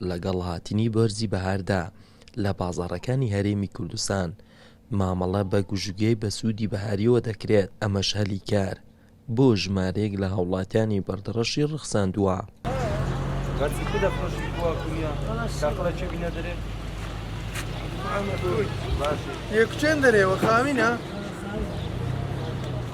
لەگەڵ هاتنی وەرزی بەهاردا، لە بازاڕەکانی هەرێمی کوردستان مامەڵە بە گژوگیای بەسوودی بەهاریەوە دەکرێت، ئەمەش هەلی کار بۆ ژمارەیەک لە هاوڵاتیانی بەردەڕەشی ڕەخساندووە.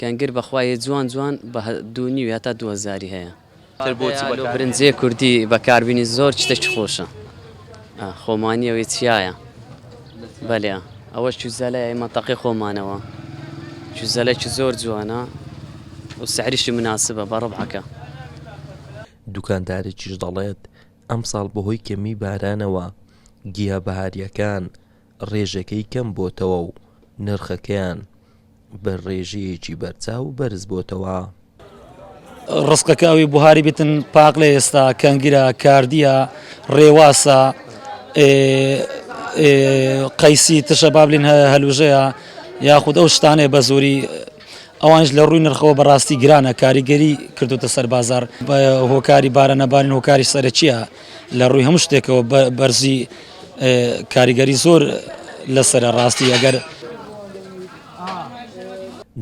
کەنگر بەخوا یە جوان جوان بە دوو نیوی هەتا دوو هەزاری هەیە. تر بۆچی بەکار بێنی. برنجی کوردی بەکار بینی زۆر شتەکی خۆشە خۆمانیە وی چیایە بەلێ ئەوە چوزەلە یای مەتەقی خۆمانەوە چوزەلەکی زۆر جوانە و سعریشی مناسبە بە ڕبعەکە. دوکاندارێکیش دەڵێت، ئەمساڵ بەهۆی کەمیی بارانەوە گیا بەهارییەکان، ڕێژەکەی کەم بۆتەوە و نرخەکەیان بە ڕێژەیەکی بەرچاو بەرز بۆتەوە. ڕسقەکە ئەوی بوهاری بتن پاق لە ئێستا کەنگرە کاردیە ڕێواسە قەیسی تشە بابلین هەلوژەیە یاخود ئەو شتانێ بە زۆری ئەوانش لە ڕووی نرخەوە بەڕاستی گرانە کاریگەری کردوتە سەر بازار هۆکاری بارە نەبارن هۆکاری سەرەکیە لە ڕووی هەموو شتێکەوە بەرزی کاریگەری زۆر لەسرە ڕاستی ئەگەر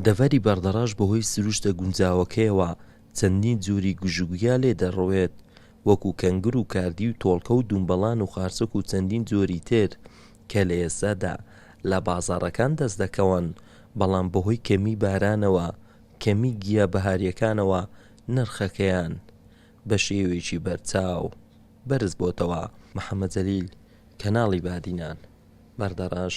دەڤەری بەردەڕەش بەهۆی سروشتە گونجاوەکەیەوە چەندین جوری گژوگیا لێ دەڕوێت وەکو کەنگر و کاردی و تۆڵکە و دومبەڵان و خارچک و چەندین جۆری تر کە لە ئێستادا لە بازاڕەکان دەست دەکەون بەڵام بەهۆی کەمی بارانەوە کەمی گیا بەهاریەکانەوە نرخەکەیان بە شێوەیەکی بەرچاو بەرز بۆتەوە محەمەد جەلیل کەناڵی بادینان بەردەڕەش.